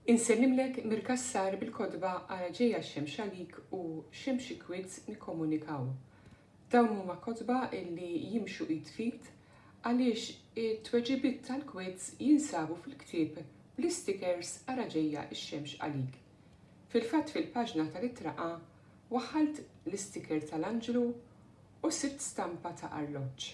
Insellimlek mir-Cassar bil-kotba Ara Ġejja x-Xemx Għalik u Xemx Ikwidz Nikkomunikaw. Dawn huma kotba li jimxu id f'id għaliex it-tweġibiet tal-kwidz jinsabu fil-ktieb bl-istikers Ara Ġejja x-Xemx Għalik. Fil-fatt fil-paġna tal-Ittra A waħħalt l-istiker tal-anġlu u sibt stampa ta' arloġġ.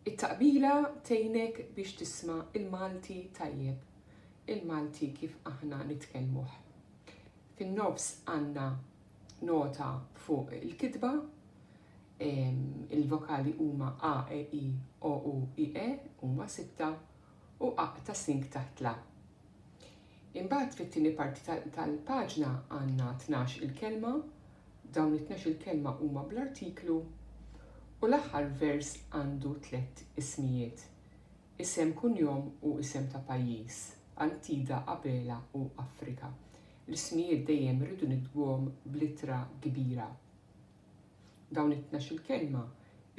It-taqbila tgħinek biex tisma' l-Malti tajjeb, il-Malti kif aħna nitkellmuh. Fin-nofs għandna nota fuq il-kitba, il-vokali huma a, e, i, o, u, i, e, huma sitta, u aq ta' sink taħt l-a. Imbagħad fit-tieni parti tal-paġna għandna tnax il-kelma, dawn it-tnax il-kelma huma bl-artiklu, u l-aħħar vers għandu tlett ismijiet, isem kunjom u isem ta' pajjiż, Antida, Abela u Afrika. L-ismijiet dejjem irridu niktbuhom bl-ittra kbira. Dawn it-tnax il-kelma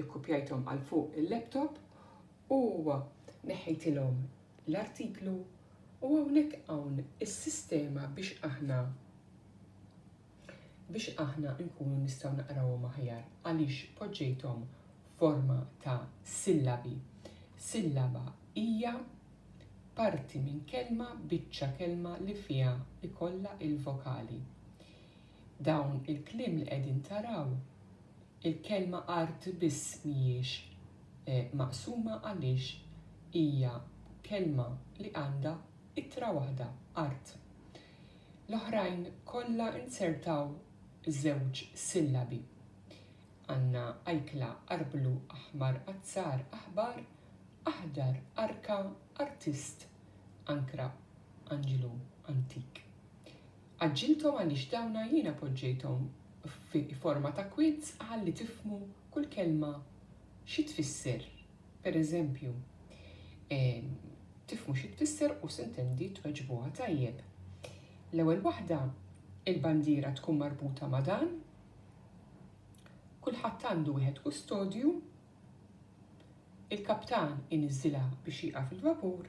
ikkupjajthom għal fuq il-laptop u neħħejtilhom l-artiklu u hawnhekk hawn is-sistema biex aħna biex aħna nkunu nistgħu naqrawhom aħjar għaliex poġġejthom forma ta' sillabi. Sillaba hija parti minn kelma, biċċa kelma li fiha ikollha il-vokali. dawn il-kliem li qegħdin taraw, il-kelma art biss mhijiex maqsuma għaliex hija kelma li għandha ittra waħda, art. L-oħrajn kollha inzertaw żewġ sillabi. Għandna ajkla, arblu, aħmar, azzar, aħbar, aħdar, arka, artist, ankra, anġlu, antik. Għaġġilthom għaliex dawna jiena poġġejthom fi forma ta' kwiz ħalli tifhmu kull kelma xi tfisser. Per eżempju, tifhmu xi tfisser u sintendi tweġbuha tajjeb. L-ewwel waħda, il-bandiera tkun marbuta ma' dan, kulħadd għandu wieħed kustodju, il-kaptan iniżżilha biex jieqaf il-vapur,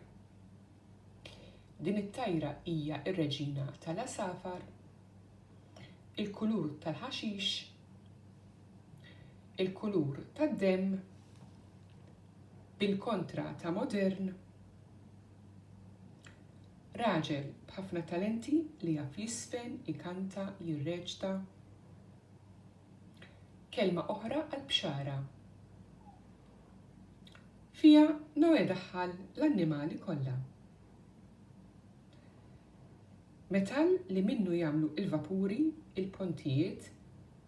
Din it-tajra hija r-reġina tal-għasafar, il-kulur tal-ħaxix, il-kulur tad-demm, bil-kontra ta' modern, raġel b'ħafna talenti li jaf jiżfen, ikanta, jirreċta, kelma oħra għall-bxara. Fiha Noè daħħal l-annimali kollha. Metall li minnu jagħmlu l-vapuri, il-pontijiet,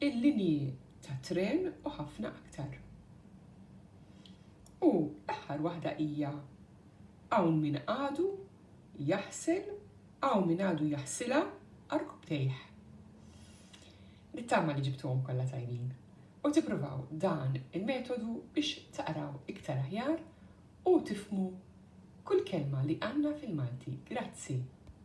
il-linji tat-tren u ħafna aktar. U l-aħħar waħda hija hawn min għadu jaħsel, hawn min għadu jaħsilha għarkubtejh. Nittama li ġibtuhom kollha tajbin u tippruvaw dan il-metodu biex taqraw iktar aħjar u tifhmu kull kelma li għandna fil-Malti. Grazzi!